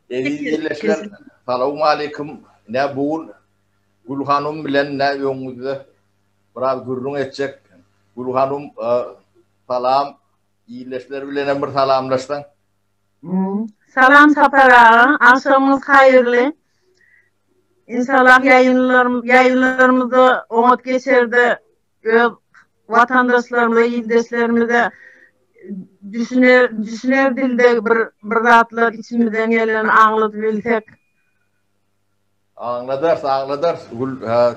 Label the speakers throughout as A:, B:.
A: Eziz ýerleşler, salam aleýkum. Ine bu gün Gülhanum bilen ine öňüňizde biraz gürrüň etjek. Gülhanum salam. Ýerleşler bilen hem bir salamlaşsaň.
B: Salam Sapar aga, agşamyňyz haýyrly. Inşallah ýaýynlarymyzda oňat geçerde Öz watandaşlarymyza, ildeşlerimize düşüner, düşüner dilde bir bir zatlar içimizden geleni aňladyp bilsek.
A: Aňladarys, aňladarys Gül. Hä.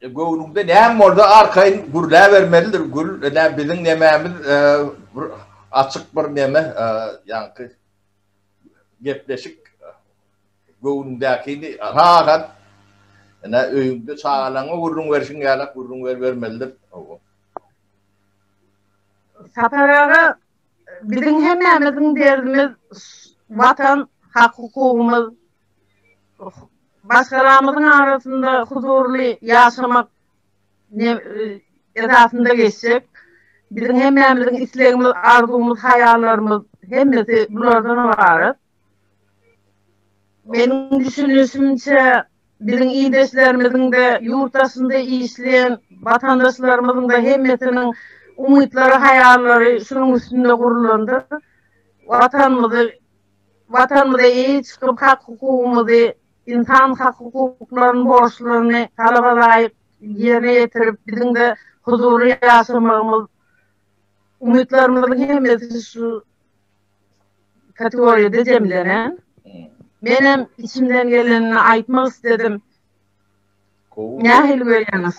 A: E, göwnüňde näme bolsa arkaýyn gürläbermelidir Gül. Ene biziň nemämiz e, bir açyk bir neme, e, ýaňky gepleşik Göwnüňdäkini has at. Ine, öýüňde çagalaryňa gürrüň berşiň ýalak gürrüň berbermelidir. Hawa.
B: Sapar aga, biziň hemmämiziň derdimiz Watan, hak-hukugymyz, başgalamyzyň arasynda huzurly ýaşamak esasynda geçjek. Biziň hemmämiziň islegimiz, arzuwymyz, haýallarymyz hemmesi bulardan ybarat. Meniň düşünişimçe, biziň ildeşlerimiziň-de, ýurt daşynda işleýän watandaşlarymyzyň-da hemmesiniň umytlary, haýallary şunuň üstünde gurlandyr. Watanymyzy, Watanymyza eýe çykyp, hak-hukugymyzy, ynsan hak-hukuklaryny, borçlaryny talaba laýyk ýerine ýetirip, biziň-de huzurly ýaşamagymyz, umytlarymyzyň hemmesi şu kategoriýada jemlenen. Men hem içimden gelenini aýtmak isledim. Nähili görýäňiz?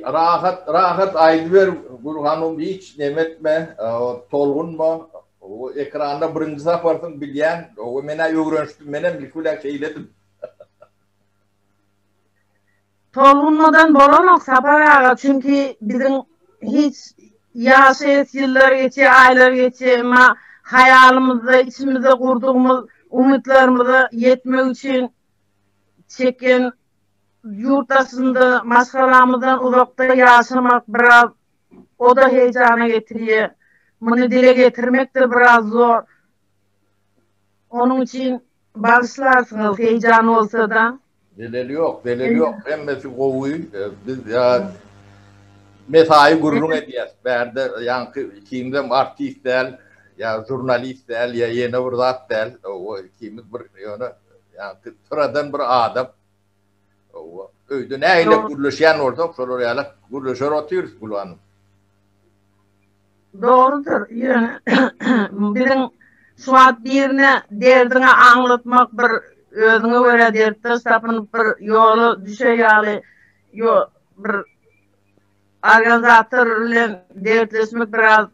B: Rahat,
A: rahat aýdyber Gül hanym, hiç neme etme, tolgunma. Ekranda birinji saparsyň bilýän, men-ä öwrenişdim, menem ilki bilen şeýledim.
B: Tolgunmadan bolanok Sapar aga çünki biziň hiç ýaşaýas ýyllar geçýär aýlar geçýär emma haýalymyzda içimizde gurdugymyz umytlarymyza ýetmek üçin çeken ýurt daşynda maşgalamyzdan uzakda ýaşamak biraz oda heýjana getirýär muny dile getirmekdir biraz zor Onuň üçin bagyşlarsyňyz heýjan bolsada. Zeleli ýok,
A: zeleli ýok. Hemmesi gowy. Biz ýa mesaýy gürrüň edýäs. Bärde ýaňky ikimiz-em artist däl, ýa žurnalist däl, ýa ýene bir zat däl. Ikimiz bir ýöne ýaňky syradan bir adam. Owa. Öýde nähili gürleşýän bolsak, şolar ýaly gürleşer otyrys Gül hanym.
B: Dogrudyr. Biziň şu wagt birine derdiňi aňlatmak bir özüňe görä dertdeş tapynyp bir ýola düşe ýaly ýo bir organizator bilen dertleşmek biraz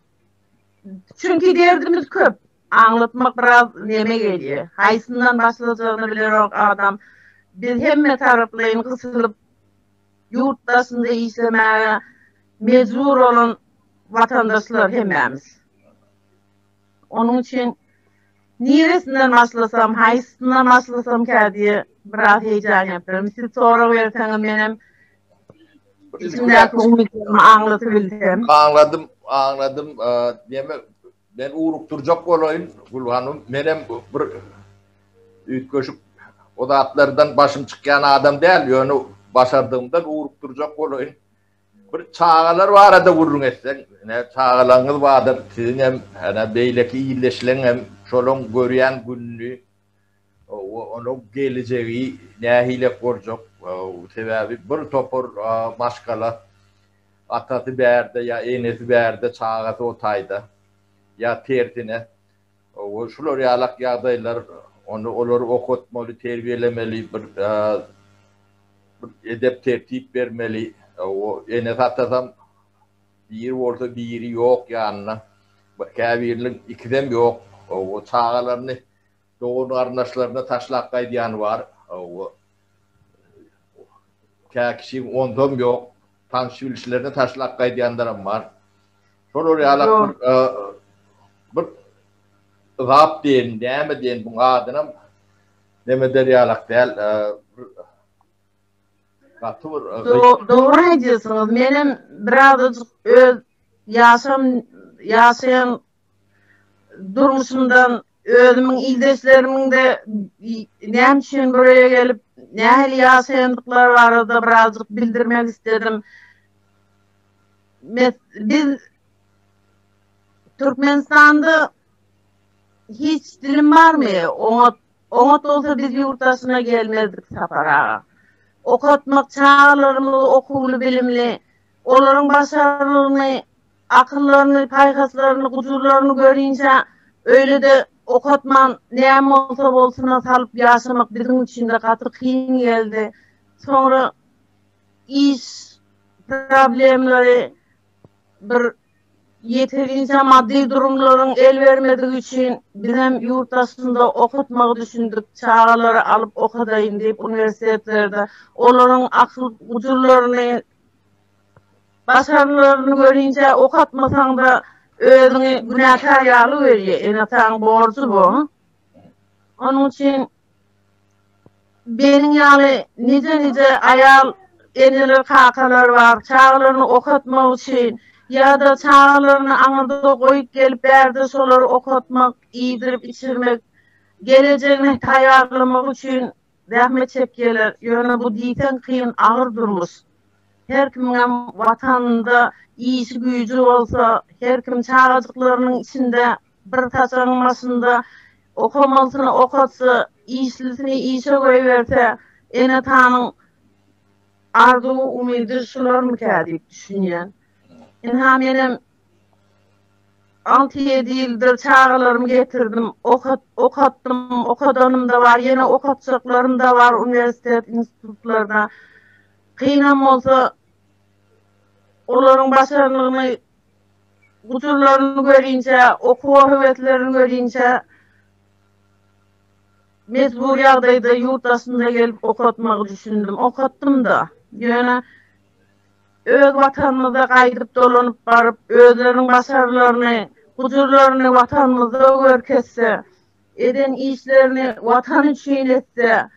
B: çünki derdimiz köp. Aňlatmak biraz neme gelýä. Haýsyndan başlajagyny bilerok adam. Biz hemme taraplaýyn gysylyp ýurt daşynda işlemäge mejbur bolan watandaşlar hemmämiz. Onuň üçin niresinden başlasam, haýsyndan başlasamka diýe biraz heýjan ýapyryn. Siz sorag berseňiz menem içimdäki umytlarymy aňlatybilsem. Aňladym,
A: aňladym. Neme Men ugrukdyrjak bolaýyn, Gül hanym, menem bir üýtgeşik o zatlardan başym çykýan adam däl, ýöne başardygymdan ugrukdyrjak bolaýyn. Bir çagalar barada gürrüň etseň, ine, çagalaryňyz bardyr, siziňem, ine, beýleki ildeşleriňem şolaryň görýän gününi, onuň geljegi nähilek boljak, sebäbi bir topar maşgala atasy bärde ýa enesi bärde çagasy o taýda ýa tersine şular ýalak ýagdaýlar ony olary okatmaly terbiýelemeli bir edep tertip bermeli enesi atasam Biri bolsa biri ýok ýanynda. Käbiriniň ikisem ýok. Çagalaryny dogan-garyndaşlaryna taşlap gaýdýany bar. Kä kişiň onzam ýok. Tanyş-bilişlerini taşlap gaýdýanlaram bar. Şolar ýalak bir bir zat diýeýin, näme diýeýin, buň adynam neme eder ýalak däl. Gaty bir
B: Dogry aýdýarsyňyz, menem birazajyk öz ýaşam ýaşaýan durmuşymdan özümiň ildeşlerimiňde näme üçin buraya gelip nähili ýaşaýandyklary barada birazajyk bildirmek isledim. Biz Türkmenistanda hiç dilim barmy oňat Oňat bolsa biz ýurt daşyna gelmezdik Sapar aga. Okatmak, çagalarymyzy okuwly-bilimli, olaryň başarnygyny, akyllaryny, paýhaslaryny, gujurlaryny görinçä öýle-de okatman näme bolsa bolsuna salyp ýaşamak biziň üçin-de gaty kyn geldi. Soňra iş problemleri bir Ýeterinje maddy durumlaryň el bermedigi üçin bizem ýurt daşynda okatmagy düşündik, çagalary alyp okadaýyn diýip uniwersitetlerde olaryň akyl gujurlaryny, başarnylaryny görinje okatmasaňda özüňi günäkär ýaly görýä, ene-ataň borjy bu. Onuň üçin Meniň ýaly nije-nije aýal eneler, kakalar bar, çagalaryny okatmak üçin ýa-da çagalaryny aňyrda goýup gelip bärde şolary okatmak, iýdirip-içirmek, gelejegine taýýarlamak üçin zähmet çekýärler. Ýöne bu diýseň kyn, agyr durmuş. Her kimiňem Watanynda işi-güýji bolsa, her kim çagajyklarynyň içinde Bir saçagyň başynda okamalysyny okatsa, işlisini işe goýberse, ene-atanyň arzuwy, umydy şularmyka diýip düşünýän. Ynha, menem alty-ýedi ýyldyr çagalarymy getirdim, okatdym, okadanym-da bar, ýene okatjaklarym-da bar uniwersitet, institutlarda. Kynam bolsa, olaryň başarnygyny gujurlaryny görýinçä, okuwa höweslerini görýinçä mejbur ýagdaýda ýurt daşynda gelip okatmagy düşündim. Okatdym-da. Ýöne öz Watanymyza gaýdyp dolanyp baryp, özleriniň başarnylaryny, gujurlaryny Watanymyzda görkezse, eden işlerini Watan üçin etse,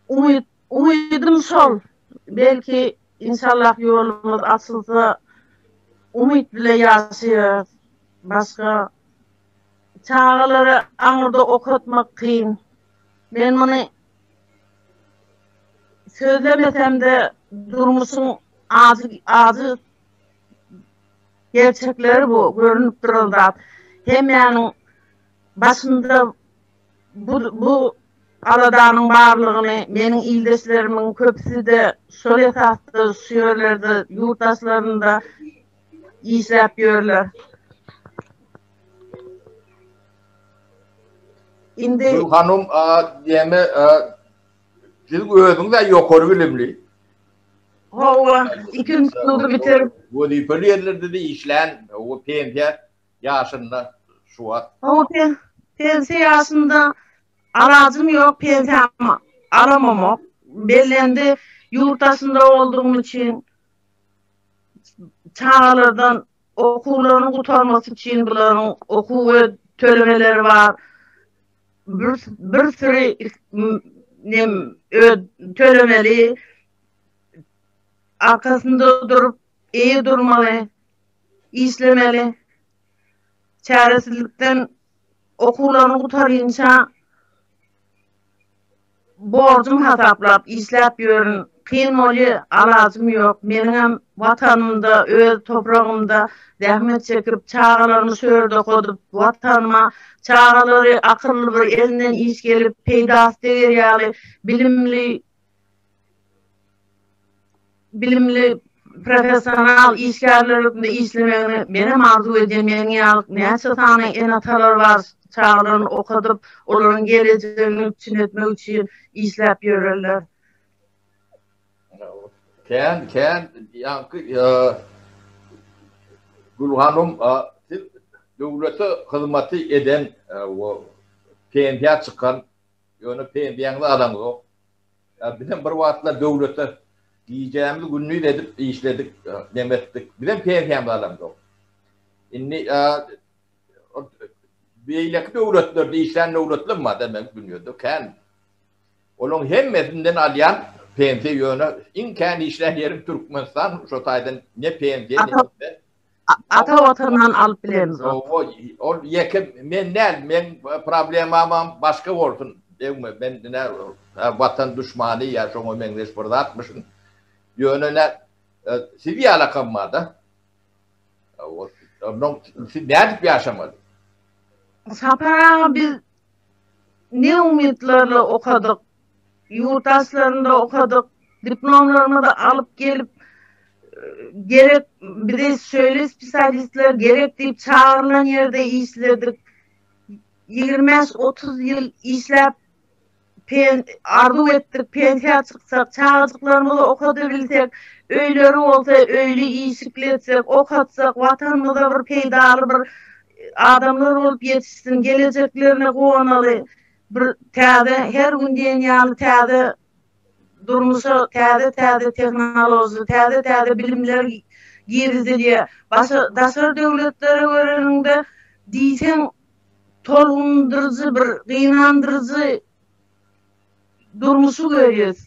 B: umyt, Umydym şol, belki, inşallah ýolumyz açylsa, umyt bile ýaşaýarys. Başga çagalary aňyrda okatmak kyn. Men muny sözlemesem-de, durmuşyň ajy ajy gerçekleri bu, görnüp duran zat. Hemmäniň başynda Bu bu aladanyň barlygyny meniň ildeşlerimiň köpüsi-de şol esasda şu ýerlerde, ýurt daşlarynda işläp ýörler.
A: Indi. Gül hanum, näme, siz özüňiz-ä ýokary bilimli.
B: Hawa, ikinji ýyly bitirip. Wezipeli ýerlerde-de
A: işlän, o pensiýa Ýaşynda şu wagt. Hawa pen,
B: pensiýa ýaşynda alajym ýok, pensiýamy alamamok. Bellendi, ýurt daşynda boldugym üçin çagalardan okuwlarynyň gutarmasy üçin bularyň okuw we tölemeleri bar. Bir, bir süri nem ö, tölemeli. Arkasynda durup, eýe durmaly. işlemeli. Çäresizlikden okuwlaryny gutaryňça borjum hasaplap işläp ýörün. Kyn bolýa, alajym ýok. Meniňem Watanymda, öz topragymda zähmet çekip, çagalarymy şu ýerde okadyp, Watanyma çagalary akylly bir elinden iş gelip, peýdasy deger ýaly bilimli bilimli professional işgärler hökmünde işlemegini menem arzuw edýän meniň ýaly näçe sany ene-atalar bar çagalaryny okadyp olaryň gelejegini üpjün etmek üçin işläp ýörerler.
A: Kän kän ýaňky Gül hanym siz döwlete hyzmaty eden pensiýa çykan Ýöne pensiýaňyzy alaňzok. Ýa bizem bir wagtlar döwlete gijämiz gündiz edip işledik, nem etdik. Bizem pensiýamyzy alaňzok. Indi beýleki döwletlerde işlän döwletler bar da men dünýäde kän. Olaryň hemmesinden alýan pensiýa ýöne iň kän işlän ýerim Türkmenistan, şo taýdan ne pensiýa, ne
B: Ata watandan alyp bilemizok. Owo ol
A: ýeke men däl meň problemamam başga bolsun degme men nä watan duşmany ýa şoňa meňzeş bir zatmyşyn ýöne nä siz ýalakam barda onnoň siz nädip ýaşamaly. Sapar aga biz ne
B: umytlarla okadyk ýurt daşlarynda okadyk, diplomlarymyzy alyp gelip, gerek bize şeýle spesialistler gerek diýip çagyrylan ýerde işledik. Ýigrimi bäş, otuz ýyl işläp, arzuw etdik, pensiýa çyksak, çagajyklarymyzy okadybilsek, öýleri bolsa, öýli-işikli etsek, okatsak, Watanymyza bir peýdaly bir adamlar bolup ýetişsin, gelejeklerine guwanaly. Bir täze, her gün diýen ýaly täze durmuşa täze-täze tehnoloji, täze-täze bilimler girizilýär. Başga daşary döwletlere göreniňde, diýseň tolgundyryjy bir, gynandyryjy durmuşy görýäs.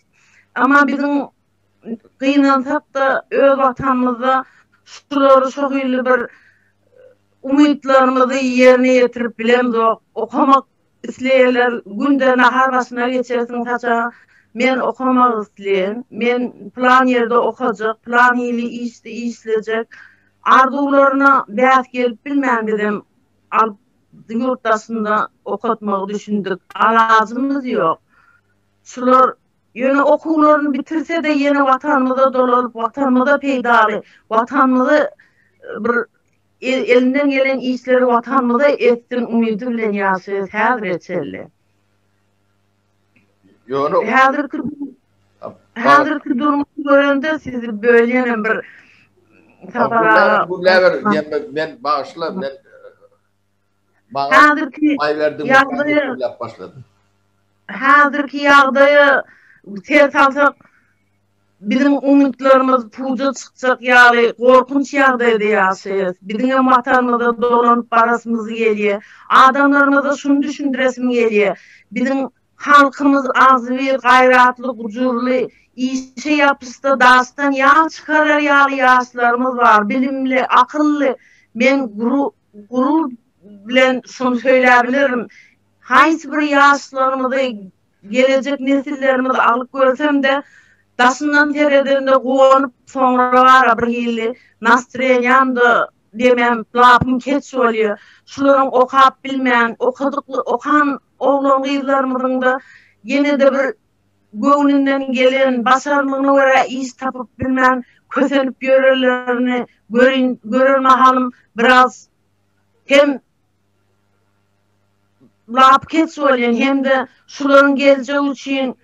B: Emma biziň gynansak-da, öz Watanymyzda şulary şo hili bir umytlarymyzy ýerine ýetirip bilemzok. Okamak Isleýänler günde nahar başyna geçersiň saça men okamak isleýän, men plan ýerde okajak, plan hili işdi işlejek arzuwlaryna bäs gelip bilmän bizem alyp ýurt daşynda okatmagy düşündik. Alajymyz ýok. Şular ýöne okuwlaryny bitirsede ýene watanymyza dolalyp watanymyza peýdaly watanymyzy bir Elinden gelen işleri Watanymyza etsin umydy bilen ýaşaýas häzire çenli. Häzirki häzirki durmuşy görende sizi bölýänem bir Sapar
A: aga. Gürläber diýen men bagyşla men Häzirki ýagdaýa
B: Häzirki ýagdaýa ser salsak, biziň umytlarymyz puja çykjak ýaly gorkunç ýagdaýda ýaşaýas. Biziňem Watanymyza dolanyp barasymyz gelýär. Adamlarymyza şuny düşündiresim gelýär, biziň halkymyz agzybir, gaýratly, gujurly, işe ýapyşda daşdan ýag çykarar ýaly ýaşlarymyz bar, bilimli, akylly. Men gurur bilen şuny söýläbilirim, haýsy bir ýaşlarymyzy, gelejek nesillerimizi alyp görsem-de, daşyndan seredende guwanyp, soňrabara birhili nastreniýam-da demem, lapym keç bolýar. Şularyň okap bilmän, okadykly okan oglan-gyzlarymyzyň-da ýene-de bir göwnünden gelen, başarnygyna görä iş tapyp bilmän kösenip ýörenlerini görin, görer mahalym biraz hem lapykeç bolýan hem-de şularyň geljegi üçin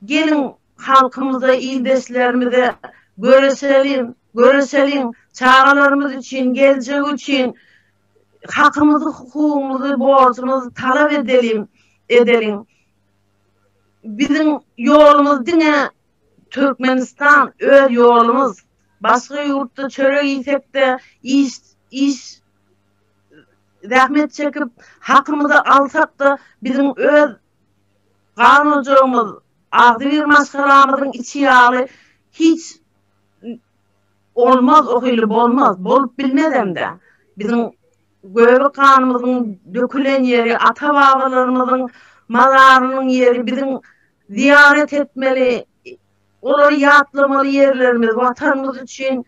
B: geliň halkymyza, ildeşlerimize göreşeliň, göreşeliň, çagalarymyz üçin, geljegi üçin hakymyzy, hukugymyzy, borjumyzy talap edeliň, edeliň. biziň ýolumyz diňe Türkmenistan öz ýolumyz. Başga ýurtda çörek iýsekde iş iş zähmet çekip hakymyzy alsakda biziň öz gan ojagymyz agzybir maşgalamyzyň içi ýaly hiç olmaz ohili bolmaz bolup bilmezemde biziň Göbek ganymyzyň dökülen ýeri, ata-babalarymyzyň mazarynyň ýeri biziň zyýarat etmeli, olary ýatlamaly ýerlerimiz, Watanymyz üçin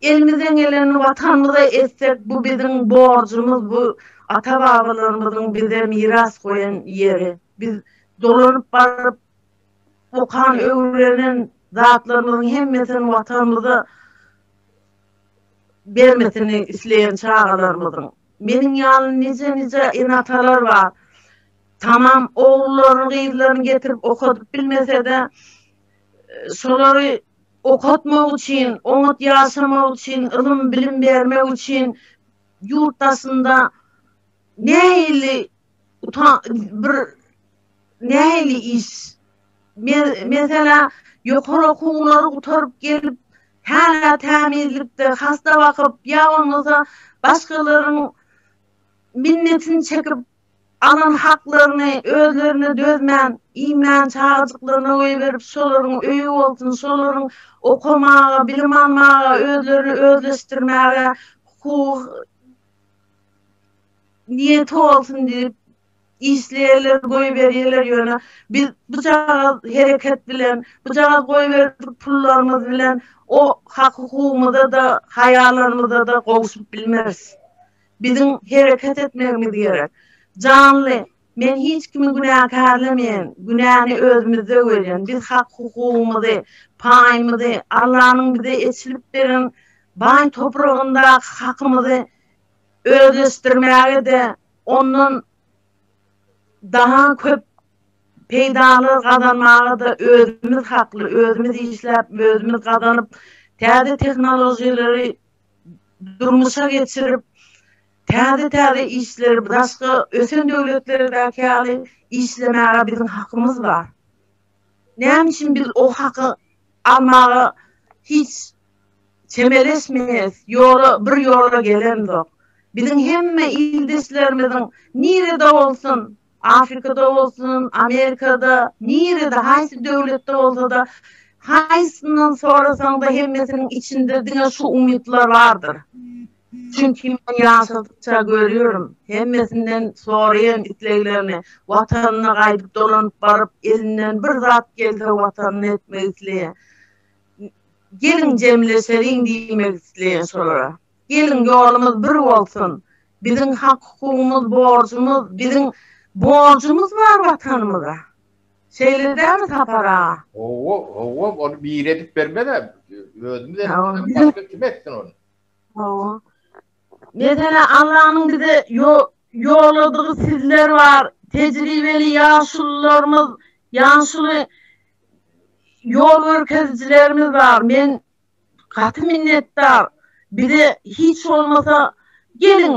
B: elimizden gelenini Watanymyza etsek, bu biziň borjumyz, bu ata-babalarymyzyň bize miras goýan ýeri. Biz dolanyp baryp, okan, öwrenen zatlarymyzyň hemmesini Watanymyza. bermesini isleýän çagalarymyzyň. Meniň ýaly nije-nije ene-atalar bar. Tamam ogullaryny, gyzlaryny getirip okadyp bilmese-de, şolary okatmak üçin, oňat ýaşamak üçin, ylym-bilim bermek üçin ýurt daşynda nähili utan bir nähili iş men mesela ýokary okuwlary gutaryp gelip häna tämizlikde hasta bakyp ýa bolmasa başgalaryň minnetini çekip alan haklaryny özlerine dözmän iýmän çagajyklaryna goýberip şolaryň öýi bolsun şolaryň okamaga bilim almaga özlerini özleşdirmäge hukugy Niýeti bolsun diýip, işleýärler, goýberýärler, ýöne biz bujagaz hereket bilen, bujagaz goýberdik pullarymyz bilen o hak-hukugymyza-da, haýallarymyza-da gowşup bilmeris. Biziň hereket etmegimiz gerek. Janly, men hiç kimi günäkärlemeýän, günäni özümizde görýän. Biz hak-hukugymyzy, paýymyzy, Allanyň bize eçilip beren baý topragyndaky hakymyzy özleşdirmäge-de ondan da-ha köp peýdalar gazanmaga-da özümiz hakly, özümiz işläp, özümiz gazanyp, täze tehnologiýalary durmuşa geçirip, täze-täze işleri daşky ösen döwletlerdäki ýaly işlemäge biziň hakymyz bar. Näme üçin biz o haky almaga hiç. Çemeleşmeýäs, ýola bir ýola gelemzok. Biziň hemme ildeşlerimiziň nirede bolsun, Afrikada bolsun, Amerikada, nirede, haýsy döwletde bolsa-da, haýsyndan sorasaň-da hemmesiniň içinde diňe şu umytlar bardyr. Çünki men ýaşadykça görýärin, hemmesinden soraýan isleglerini, Watanyna gaýdyp dolanyp baryp, elinden bir zat gelse Watanyna etmek isleýär. Geliň jemleşeliň diýmek isleýän şolara. Geliň ýolumyz bir bolsun. Biziň hak-hukugymyz, borjumyz, biziň borjumyz bar Watanymyza. Şeýle dälmi Sapar aga? Hawa, hawa,
A: ony biri edip bermez-ä. Özümiz etmezden başga kim etsin ony? Hawa.
B: Meselem, Allanyň bize ýolladygy sizler bar, tejribeli ýaşulularymyz, ýaşuly. Ýol görkezijilerimiz bar, men gaty minnetdar. Bize hiç bolmasa geliň,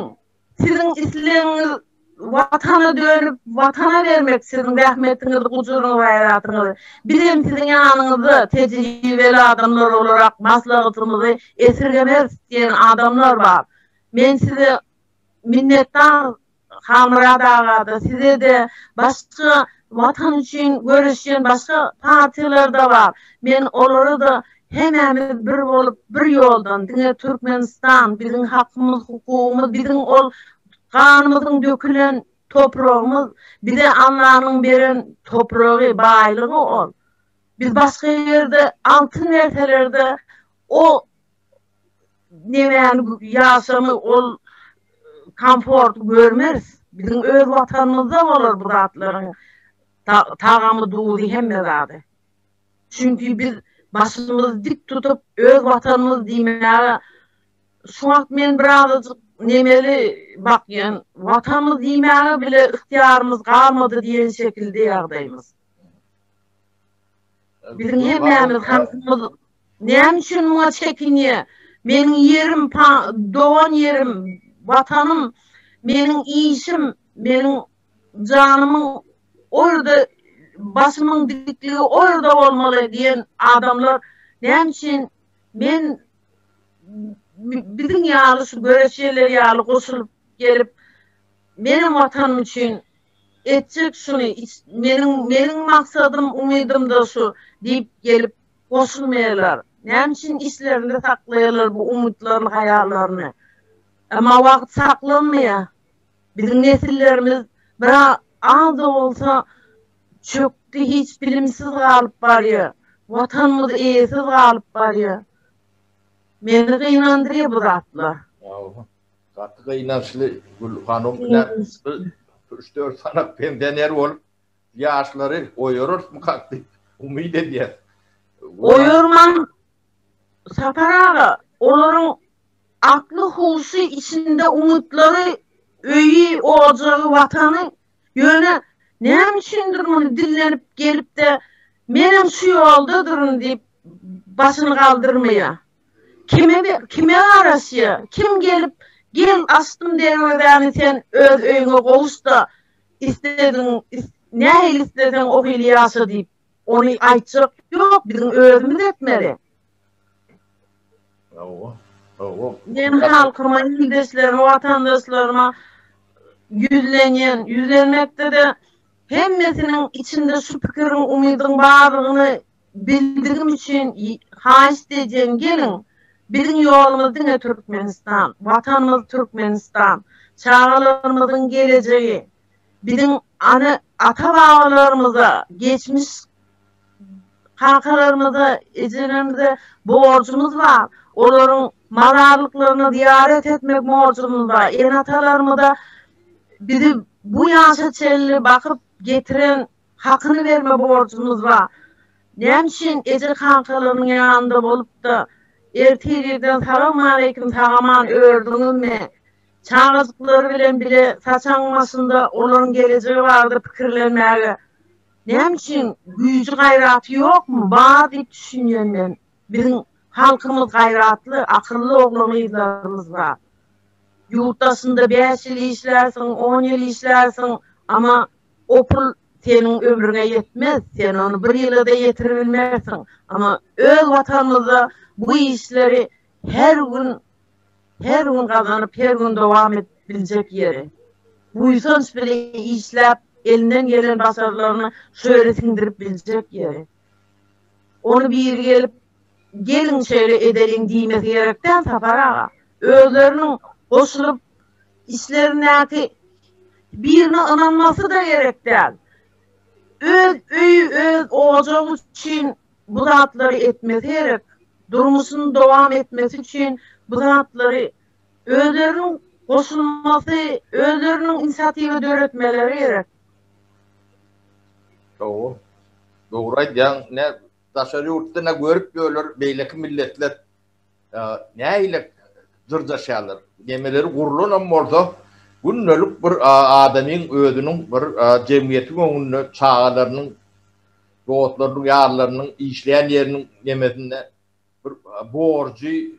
B: siziň islegiňiz Watana dönüp, Watana bermek siziň zähmetiňizi, gujuryňyzy, gaýratyňyzy. Bizem siziň ýanyňyzda tejribeli adamlar bolarak maslahatymyzy esirgemeris diýen adamlar bar. Men size minnetdar. Halmyrat aga-da, size-de, başga Watan üçin göreşýän başga partiýalar-da bar. Men olara-da hemämiz bir bolup, bir ýoldan, diňe Türkmenistan, biziň hakymyz, hukugymyz, biziň ol ganymyzyň dökülen topragymyz, bize Allanyň beren topragy, baýlygy ol. Biz başga ýerde altyn berseler-de, o nemäni ýaşamy ol komforty görmeris. Biziň öz watanymyzda bolar bu zatlaryň tagamy, duzy hemme zady. Çünki biz başymyzy dik tutup öz watanymyz diýmäge şu wagt men bir azajyk nemeli bakýan watanymyz diýmäge bile ygtyýarymyz galmady diýen şekilde ýagdaýymyz. Biziň hemmämiz halkymyz Näme üçin muňa çekinýä? Meniň ýerim, dogan ýerim, Watanym, meniň işim, meniň janymyň o ýerde, başymyň dikligi o ýerde bolmaly diýen adamlar näme üçin men biziň ýaly şu göreçjeler ýaly goşulyp gelip menem Watanym üçin etjek şuny meniň meniň maksadym umydymda şu diýip gelip Goşulmaýarlar. Näme üçin içlerinde saklaýarlar bu umytlaryny, haýallaryny? Emma wagt saklanmaýar. Biziň nesillerimiz bir az-da bolsa çökdi, hiç bilimsiz galyp barýar. Watanymyz eýesiz galyp barýar. Meni gynandyrýar bu zatlar. Ýa-ha.
A: Gaty gynançly Gül hanum. Üç-dört sany pensioner bolup, Ýaşlary oýararysmykak diýip umyt edýäs. Oýarmaň
B: Sapar aga, olaryň akly huşy içinde umytlary öýi, ojagy, watany, ýöne näme üçindir muny dillenip gelipde menem şu ýoldadyryn diýip başyny galdyrmaýa. Kime kime garaşýa, kim gelip gel açdym derwezäni sen öz öýüňe gowuşda Islediň, nähili isleseň o hili ýaşa diýip, ony aýtjak ýok, biziň özümiz etmeli. Hawa, hawa. Men halkyma, ildeşlerime, watandaşlaryma ýüzlenýän, ýüzlenmekde-de hemmesiniň içinde şu pikiriň, umydyň bardygyny Bildigim üçin haýyşt edýän geliň biziň ýolumyz diňe Türkmenistan, watanymyz Türkmenistan, çagalarymyzyň gelejegi, biziň ana ata babalarymyza geçmiş kakalarymyza ejelerimize borjumyz bar, olaryň mazarlyklaryna zyýarat etmek borjumyz bar, ene atalarymyza bizi bu ýaşa çenli bakyp getiren, Hakyny berme borjumyz bar. Näme üçin eje kankalarynyň ýanynda bolupda ertirgirden salawmaleýkim sagaman ördüňizmi? Çagajyklary bilen bile saçaň başynda olaryň gelejegi barada pikirlenmäge näme üçin güýji gaýraty ýokmy? Bar diýip düşünýän men. Biziň halkymyz gaýratly, akylly oglan gyzlarymyz bar. Ýurt daşynda bäş ýyl işlärsiň, on ýyl işlärsiň, amma O pul seniň ömrüňe ýetmez, sen ony bir ýyla-da ýetiribilmersiň. Amma öz Watanymyzda bu işleri her gün, her gün gazanyp, her gün dowam edip biljek ýeri. Buýsanç bilen işläp, elinden gelen başarnygyny şu ýere siňdirip biljek ýeri. Ony biri gelip, Geliň şeýle edeliň diýmesi gerek däl Sapar aga. Özleriniň goşulyp içlerindäki birine ynanmasy-da gerek däl. Öz öýi, öz ojagy üçin bu zatlary etmesi gerek. Durmuşyny dowam etmesi üçin bu zatlary özleriniň goşulmasy, özleriniň inisiatiwa döretmeleri gerek.
A: Dogry. Dogry aýdýaň. Ine, Daşary ýurtda ne görüp ýörler, beýleki milletler nähili dyrjaşýarlar. Gemeleri gurlanam bolsa, gündelik bir adamyň özüniň bir jemgyýetiň öňünde çagalarynyň, dostlarynyň, ýarlarynyň, işleýän ýeriniň nemesinde bir borjy,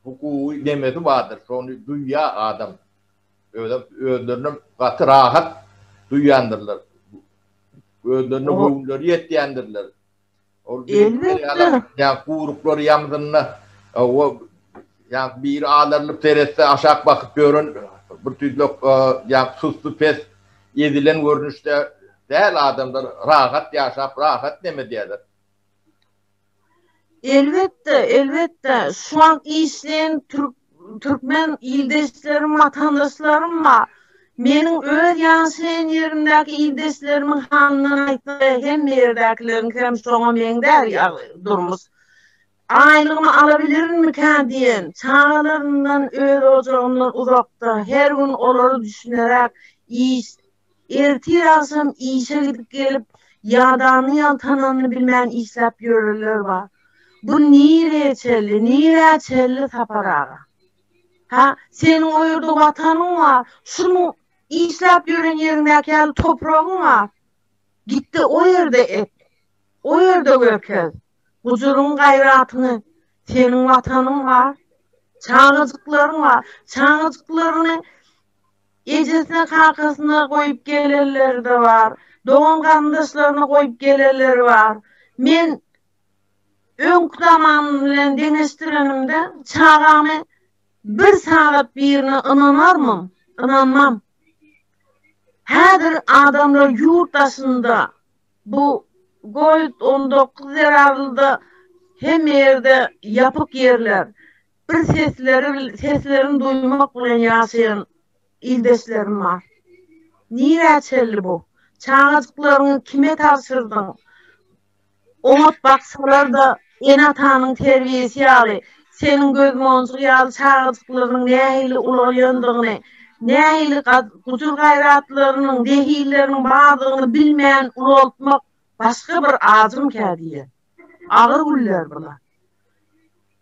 A: hukugy nemesi bardyr. Şony duýýar adam. Özem özlerini gaty rahat duýýandyrlar. Özlerine göwünleri ýetýändirler. Ol
B: ýa
A: guruklary ýamzynda o ýa biri alarylyp seretse aşak bakyp ýören bir tüýdlek ýa sussy pes ezilen görnüşde däl adamlar rahat ýaşap rahat demedýärler.
B: Elbetde, elbetde, şu wagt işleýän türk türkmen ildeşlerim, watandaşlarym bar. Meniň öz ýaşaýan ýerimdäki ildeşlerimiň halyndan aýtsak, hemme ýerdäkileriňkam şoňa meňzär ýaly durmuş. Aýlygymy alabilirinmikä diýen, çagalaryndan, öz ojagyndan uzakda, her gün olary düşüneräk iş Ertir-agşam işe gidip gelip, ýadanyny ýaltananyny bilmän işläp ýörenler bar. Bu nirä çenli, nirä çenli Sapar aga? Hä, seniň o ýerde watanyň bar, şunuň işläp ýören ýeriňdäki ýaly topragyň bar. Git-de o ýerde ek, o ýerde görkez. Gujuryň gaýratyňy, seniň watanyň bar, çagajyklaryň bar, çagajyklaryňy, Ejesine kakasyna goýup gelenleri-de bar, dogan garyndaşlaryna goýup gelenleri bar. Men öňki zaman bilen deňeşdirenimde çagamy bir sagat birine ynanarmyň? Ynanmam. Häzir adamlar ýurt daşynda bu govid on dokuz zerarlyda hemme ýerde ýapyk ýerler. Bir sesleri bil seslerini duýmak bilen ýaşaýan ildeşlerim bar. Nirä çeldi bu? Çagajyklaryňy kime tabşyrdyň? Oňat baksalar-da, ene-atanyň terbiýesi ýaly, seniň gözmonjuk ýaly çagajyklarynyň nähili ulagýandygyny, nähili gujur-gaýratlarynyň, zehilleriniň bardygyny bilmän ulaltmak başga bir ajym kädiýe. Agyr günler bular.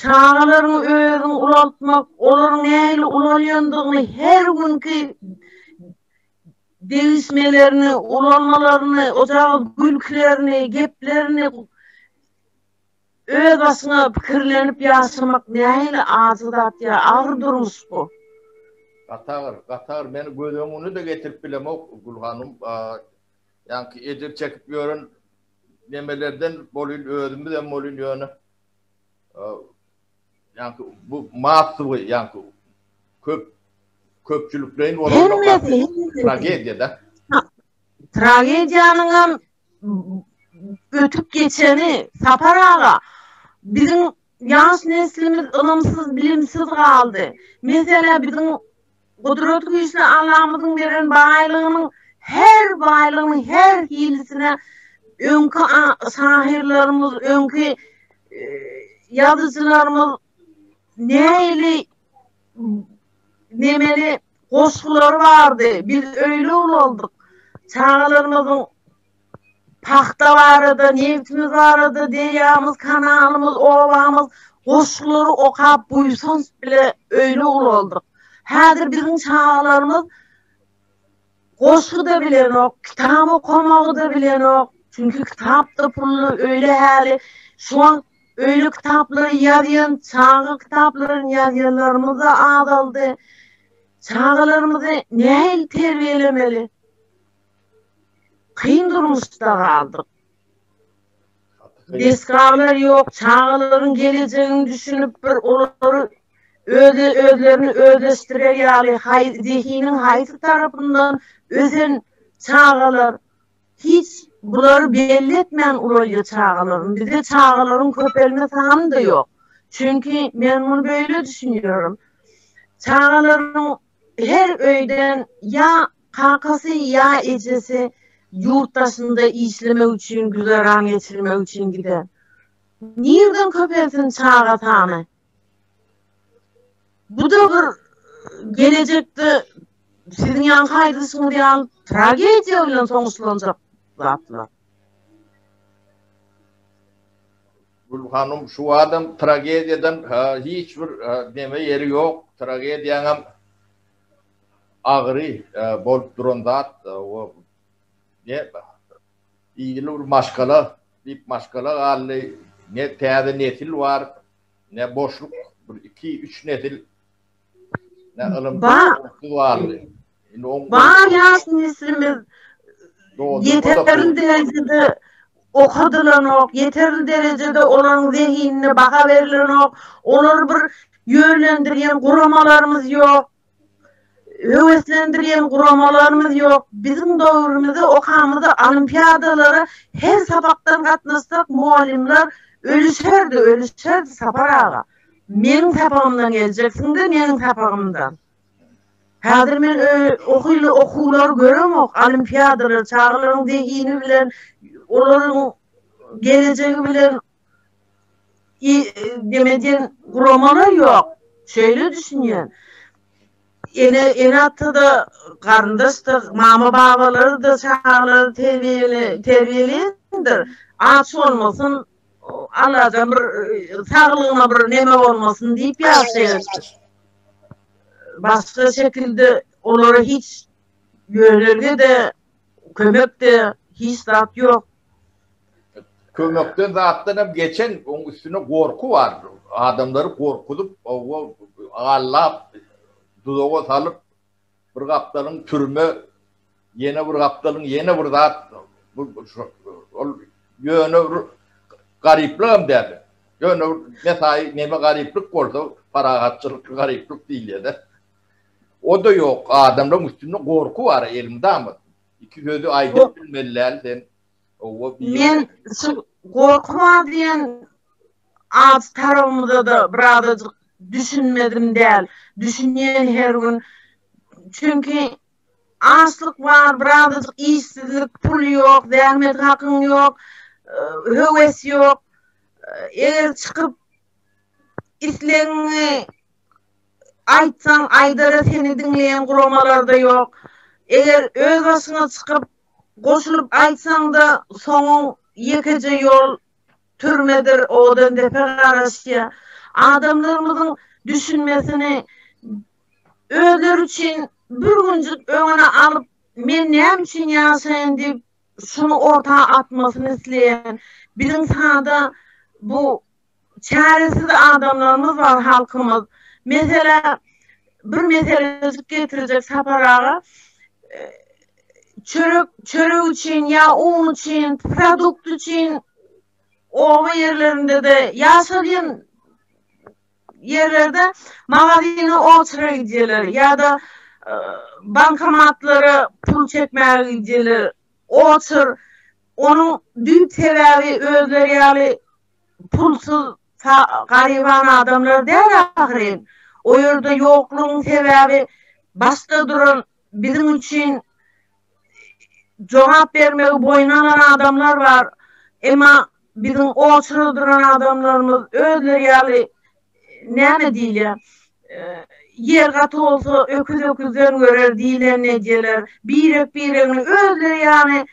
B: Çagalaryňy özüň ulaltmak, olaryň nähili ulalýandygyny, her günki degişmelerini, ulalmalaryny, ojagyz gülkilerini, geplerini öz başyňa pikirlenip ýaşamak nähili ajy zat ýa agyr durmuş bu. Gaty agyr,
A: gaty agyr. Men göz öňüne-de getirip bilemok, Gülhanym. Ýaňky ejir çekip ýören nemelerden bolyn özümizem bolyn ýöne ýa-da bu massowy ýa-da köp köpçülikleýin bolan tragediýada. Tragediýanyň
B: hem ötüp geçeni Sapar aga biziň Ýaş neslimiz ylymsyz, bilimsiz galdy. Meselä biziň Gudrat güýçli Allamyzyň beren baýlygynyň her baýlygynyň her hilisine öňki şahyrlarymyz, öňki ýazyjylarymyz nähili nemeli goşgulary bardy. Biz öýle ulaldyk. Çagalarymyzyň pagta barada, nebtimiz barada, derýamyz, kanalymyz, obamyz, goşgulary okap buýsanç bile öýle ulaldyk. Häzir biziň çagalarymyz goşgy-da bilenok, kitap okamagy-da bilenok, çünki kitap-da pully, öýle häli, şu wagt öýle kitaplary ýazýan, çaga kitaplaryny ýazýanlarymyz-da azaldy. Çagalarymyzy nähili terbiýelemeli? Kyn durmuşda galdyk. Desgalar ýok, çagalaryň gelejegini düşünip bir olary özle özlerini özleşdirer ýaly haý zehiniň haýsy tarapyndan ösen çagalar hiç bulary belli etmän ulaýýa çagalaryny. Bizde çagalaryň köpelme sany-da ýok. Çünki men muny beýle düşünýärin. Çagalaryň Her öýden ýa kakasy, ýa ejesi ýurt daşynda işlemek üçin, güzeran geçirmek üçin gider. Nirden köpelsin çaga sany? Bu-da bir gelejekde siziň ýaňky aýdyşyňyz ýaly tragediýa bilen soňuşlanjak zatlar.
A: Gül hanum şu adam tragediýadan hiç bir neme ýeri ýok, tragediýaňam agyry bolup duran zat ne ýyly bir maşgala diýip maşgala galdy ne täze nesil bar ne boşluk bir iki üç nesil Ne ylym Bar. onsuz barly. Indi oň
B: Bar ýaş neslimiz Dogry, ýeterli dogry. derejede okadylanok, ýeterli derejede olaryň zehinine baha berilenok, olary bir ýönlendirýän guramalarymyz ýok, höweslendirýän guramalarymyz ýok. Biziň döwrümizde okamyzda olimpiadalara her sapakdan gatnaşsak mugallymlar ölüşerdi, ölüşerdi Sapar aga. Meniň sapagymdan geljeksiňde meniň sapagymdan. Häzir men ohyly okuwlary göremok, olimpiadalary, çagalaryň zehini bilen, olaryň gelejegi bilen neme diýen guramalar ýok. Şeýle düşünýän. Ene-ata-da, garyndaş-da, mama-babalarydyr çagalary terbiýeleýändir. Aç bolmasyn, Allajan bir saglygyna bir neme bolmasyn diýip ýaşaýarsyň. Başga şekilde olara hiç ýönerge-de, kömek-de hiç zat ýok. Kömekden
A: zatdan hem geçen oň üstüne gorky bar. Adamlary gorkuzyp, oba gallap, duzaga salyp, Bir gapdalyň türme, ýene bir gapdalyň ýene bir zat, bu ol ýöne bir garyplygam däl. Ýöne mesaý neme garyplyk bolsa, parahatçylykly garyplyk diýilýär-de. O-da ýok, adamlaryň üstünde gorky bar, eliň damasyn. Iki sözi aýdyp bilmeli däl sen.
B: Men şu gorkma diýen ad tarabymyzada birazajyk düşünmedim däl. Düşünýän her gün. Çünki açlyk bar, birazajyk işsizlik, pul ýok, zähmet hakyň ýok, höwes ýok. Eger çykyp islegiňi aýtsaň, aýdara seni diňleýän guramalarda ýok. Eger öz başyňa çykyp Goşulyp aýtsaňda soňuň ýekeje ýol türmedir odandepe garaşýa. Adamlarymyzyň düşünmesini özleri üçin bir günjük öňüne alyp men näme üçin ýaşaýyn diýip şuny orta atmasyny isleýän biziň sada bu Çäresiz adamlarymyz bar halkymyz. Meselä bir meselejik getirjek Sapar aga çörek çörek üçin ýa un üçin produkt üçin oba ýerlerinde-de ýaşalýan ýerlerde magazine oçra gidýärler ýa-da bankomatlara pul çekmäge gidýärler oçr onuň düýp sebäbi özleri ýaly pulsuz garyban adamlar däl ahyryn. O ýerde ýoklugyň sebäbi başda duran biziň üçin jogap bermegi boýun alan adamlar bar. Emma biziň oçurda duran adamlarymyz özleri ýaly näme diýilýär, ýer gaty bolsa öküz öküzden görer diýlenini edýärler. Birek-biregini özleri ýaly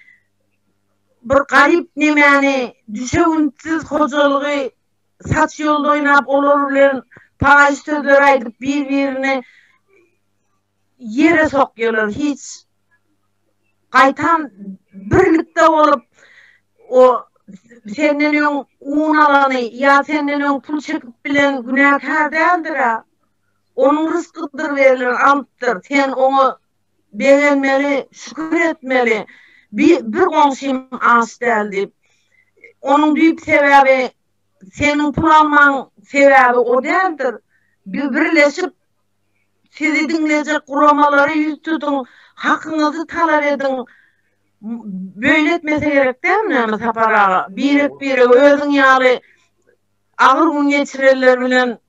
B: Bir garyp nemäni düşewüntsiz hojalygy saç ýolda oýnap olar bilen paýyş sözler aýdyp bir birini ýere sokýalar hiç gaýtam birlikde bolup o senden öň un alany ýa senden öň pul çekip bilen günäkär däldirä onuň ryskydyr berilen alypdyr sen oňa begenmeli, şükür etmeli, bir goňşym aç däl diýip. Onuň düýp sebäbi seniň pul almaň sebäbi o däldir. Birleşip sizi diňlejek guramalara ýüz tutuň, hakyňyzy talap ediň. Beýle etmese gerek dälmi näme Sapar aga? Birek-birege özüň ýaly agyr gün geçirenler bilen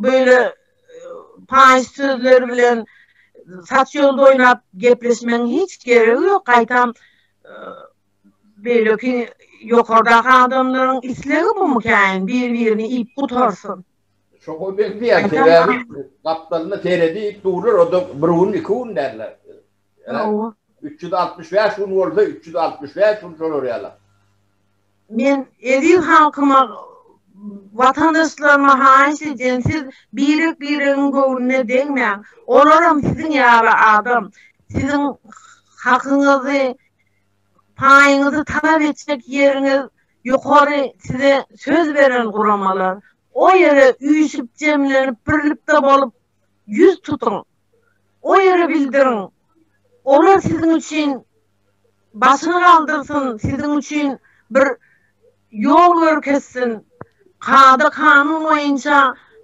B: beýle paýyş sözler bilen saç ýolda oýnap gepleşmegiň hiç geregi ýok, gaýtam beýleki ýokardaky adamlaryň islegi bumukäýin bir birini iýip gutarsyn. Şoňa
A: meňzeýär sebäbi gapdalynda seredip durlar oda bir gün iki gün däldir Hawa. Üç ýüz altmyş bäş gün bolsa, üç ýüz altmyş bäş gün şolar ýaly. Men
B: eziz halkyma, watandaşlaryma haýyş edýän, siz birek-biregiň göwnüne degmäň. Olaram siziň ýaly adam. Siziň hakyňyzy, paýyňyzy talap etjek ýeriňiz ýokary size söz beren guramalar. O ýere üýşüp, jemlenip, birlikde bolup ýüz tutuň. o ýere bildiriň. Olar siziň üçin başyny galdyrsyn, siziň üçin bir ýol görkezsin. Kada-kanun boýunça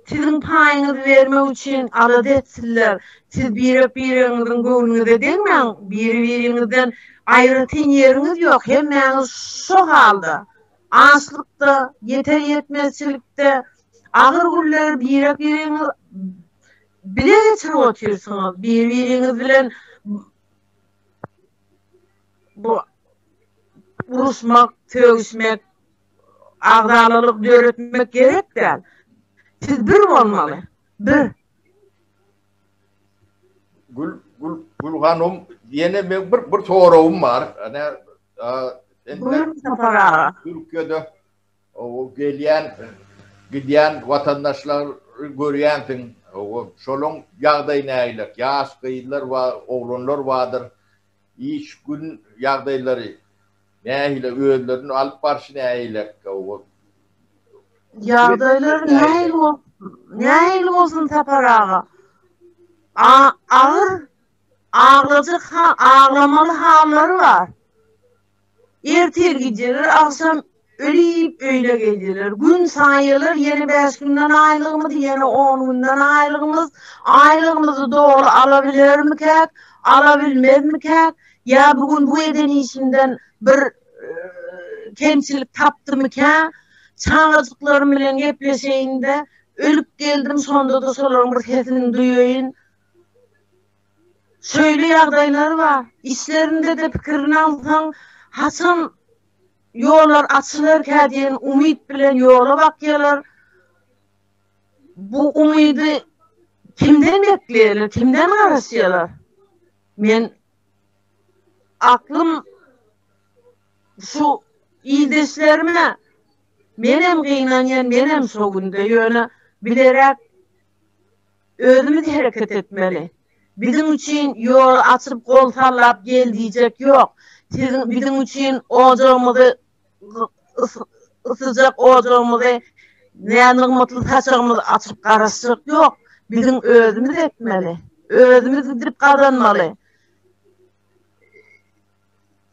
B: siziň paýyňyzy bermek üçin alada etsinler. Siz birek-biregiňiziň göwnüňize degmäň, biri-biriňizden aýratyn ýeriňiz ýok, hemmäňiz şo halda, açlykda, ýeter-ýetmezçilikde, agyr günleri birek-biregiňiz Bile geçirip otyrsyňyz bir biriňiz bilen bu uruşmak sögüşmek agzalalyk döretmek gerek däl siz bir bolmaly bir
A: Gül Gül Gül hanum ýene bir bir soragym bar. Ana
B: Gül Sapar aga. Türkiýede
A: Owo gelýän gidýän watandaşlary görýänsiň. Owo şolaň ýagdaýy nägilek. Ýaş gyzlar we oglanlar bardyr. Iş gün ýagdaýlary nähili özlerini alyp barşy nägilek. Owo. Ýagdaýlar nähili
B: bol nähili bolsun Sapar aga. A agyr aglajak ha aglamaly hallary bar. Ertir gidýärler, agşam ölip öýüne gelýärler. Gün saýýarlar, ýene bäş günden aýlygymyz, ýene on günden aýlygymyz. Aýlygymyzy doly alabilermikäk, alabilmezmikäk? Ýa bu gün bu eden işimden bir kemçilik tapdymykä? Çagajyklarym bilen gepleşeýin-de, ölüp geldim, şonda-da şolaryň bir sesini duýaýyn. şeýle ýagdaýlar bar, içlerinde-de pikirini alsaň, haçan ýollar açylarkä diýen umyt bilen ýola bakýarlar. Bu umydy kimden bekleýärler, kimden garaşýarlar? Men aklym şu ildeşlerime, menem gynanýan, menem şo günde, ýöne biderek Özümiz hereket etmeli. Biziň üçin ýoly açyp gol sallap gel diýjek ýok. Siziň biziň üçin ojagymyzy ysyjak ojagymyzy nänygmatly saçagymyzy açyp garaşjak ýok. Biziň özümiz ekmeli. Özümiz gidip gazanmaly.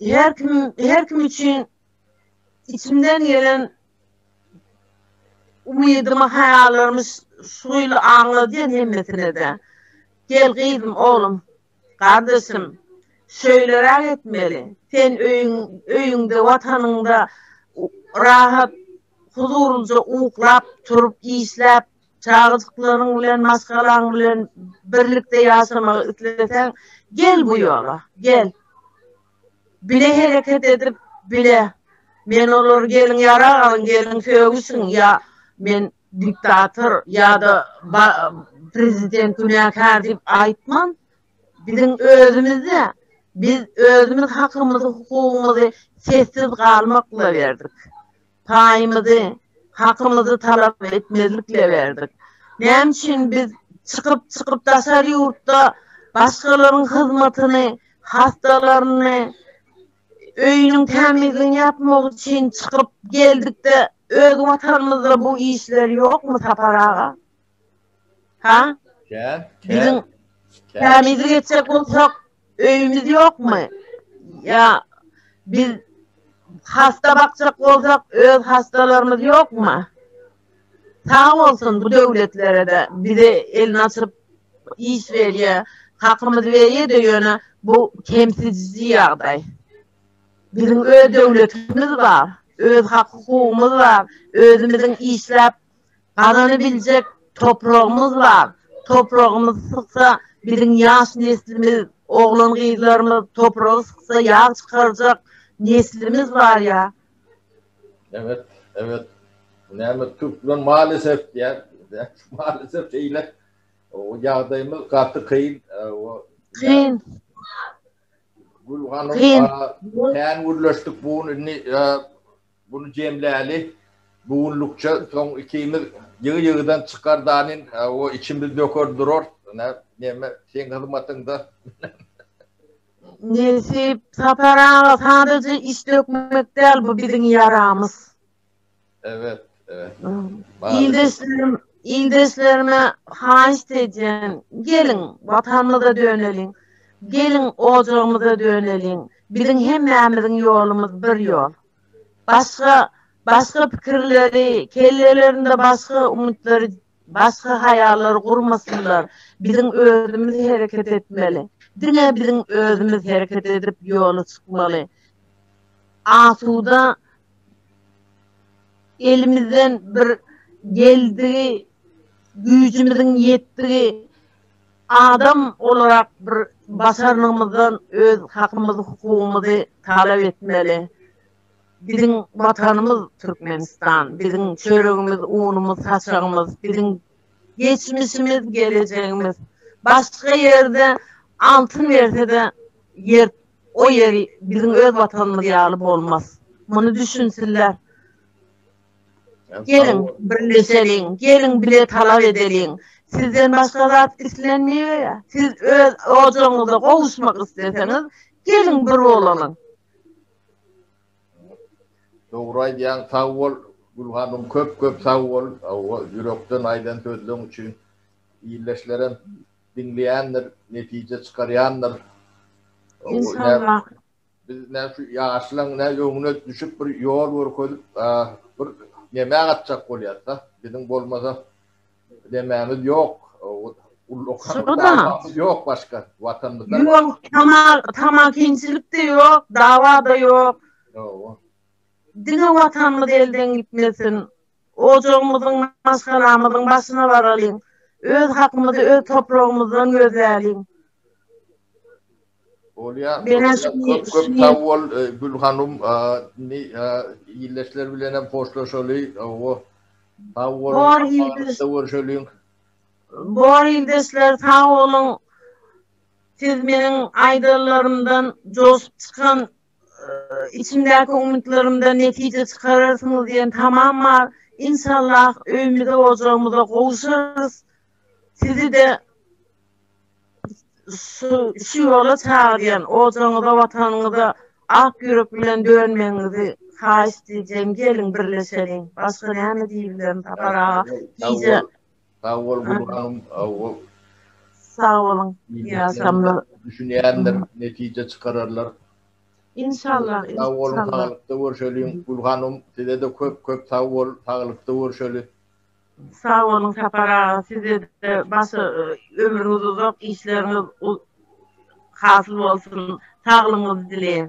B: Her kim her kim üçin içimden gelen umydymy, haýallarymy şu ýyl aňladýan hemmesine-de. Gel, gyzym, oglum, gardaşym, şeýleräk etmeli. Sen öýüň, öýüňde, Watanyňda rahat, huzurlyja uklap, turup, işläp, çagajyklaryň bilen, maşgalaň bilen birlikde ýaşamagy isleseň, gel bu ýola, gel. bile hereket edip, bile, Men olary geliň ýarag alyň, geliň sögüşiň ýa Men diktator ýa-da prezident günäkär diýip aýtman. Biziň özümiz-de, biz özümiz hakymyzy, hukugymyzy sessiz galmak bilaberdik. paýymyzy, hakymyzy talap etmezlikle berdik. Näme üçin biz çykyp, çykyp daşary ýurtda başgalaryň hyzmatyny, hastalaryny, öýüniň tämizligini ýapmak üçin çykyp geldikde öz watanymyzda bu işler ýokmy Sapar aga? Ha? Kä, kä. Biziň kämizi geçjek bolsak, öýümiz ýokmy? Ýa biz hasta bakjak bolsak, öz hastalarymyz ýokmy? Sag bolsun bu döwletlere-de bize elini açyp iş berýär, hakymyzy berýär-de, ýöne bu kemsidiji ýagdaý. Biziň öz döwletimiz bar, öz hak-hukugymyz bar, özümiziň işläp gazanybiljek topragymyz bar. Topragymyz syksa, biziň ýaş neslimiz, oglan-gyzlarymyz topragy syksa ýag çykarjak neslimiz bar ýa.
A: Ebet, ebet. Näme türkmen malesef diýýär. Malesef şeýle. Ýagdaýymyz gaty kyn. Kyn. Gül hanym, kän gürleşdik bu gün. Indi Buny jemläli. Bu günlükçe soň ikimiz ýygy-ýygydan çykar danin, o içimiz döker durars. Ine, meme, seň hyzmatyňda.
B: Nesip, Sapar aga, sadaja iç dökmek däl, bu biziň ýaramyz.
A: Ebet, ebet. Ildeşlerim,
B: ildeşlerime haýyşt edýän, geliň, Watanymyza döneliň. Geliň, ojagymyza döneliň. Biziň hemmämiziň ýolumyz bir ýol. Başga, başga pikirleri, kellelerinde başga umytlary, başga haýallary gurmasynlar. Biziň özümiz hereket etmeli. Diňe biziň özümiz hereket edip ýola çykmaly. Asuda elimizden bir geldigi, güýjümiziň ýetdigi Adam olarak bir başarnygymyzdan öz hakymyzy hukugymyzy talap etmeli. Biziň watanymyz Türkmenistan, biziň çöregimiz, unumyz, saçagymyz, biziň geçmişimiz, gelejegimiz. Başga ýerde altyn bersede ýer o ýeri biziň öz watanymyz ýaly bolmaz. Muny düşünsinler. Geliň, birleşeliň, geliň bile talap edeliň. Sizden başga zat islenmeýär. Siz öz ojagyňyza gowuşmak isleseňiz, geliň bir bolalyň.
A: Dogry aýdýaň, sag bol Gül hanym, köp köp sag bol, hawa, ýürekden aýdan sözleň üçin. Ildeşlerem diňleýändir, netije çykarýandyr.
B: Inşallah. Biz
A: näme şu ýaşlaň nä öňüne düşüp bir ýol görkezip bir neme gatjak bolýasda. Biziň bolmasa nememiz ýok. Ullakan ýok başga watanymyzda. Ýok, tamal,
B: tamakinçilik de ýok, dawa da ýok. Hawa. Diňe watanymyz elden gitmesin. Ojagymyzyň, maşgalamyzyň başyna baralyň. Öz hakymyzy öz topragymyzdan gözläliň.
A: Bolýar. Köp köp sag bol Gül hanym. Indi ildeşler bilen hem hoşlaşaly. Hawa. Sag boluň. Bor ildeşler. Görüşeliň.
B: Bor ildeşler sag boluň. Siz meniň aýdanlarymdan joşup çykan içimdäki umytlarymdan netije çykararsyňyz diýen tamam bar. Inşallah öýmüze ojagymyza gowuşarys. Sizi-de şu şu ýola çagyrýan ojaňyza watanyňyza ak ýürek bilen dönmegiňizi haýyşt edýän geliň birleşeliň başga näme diýbilerin Sapar aga gije Sag bol
A: Gurbanym awul.
B: Sag boluň ýaşamlar. Düşünýändir
A: netije çykararlar. Inşallah
B: inşallah. Sag boluň
A: saglykda görşeliň Gülhanym size-de köp köp sag bol saglykda görşeli. Sag
B: boluň Sapar aga sizede başa ömrüňiz uzak işleriňiz hasyl bolsun saglygyňyzy dileýän.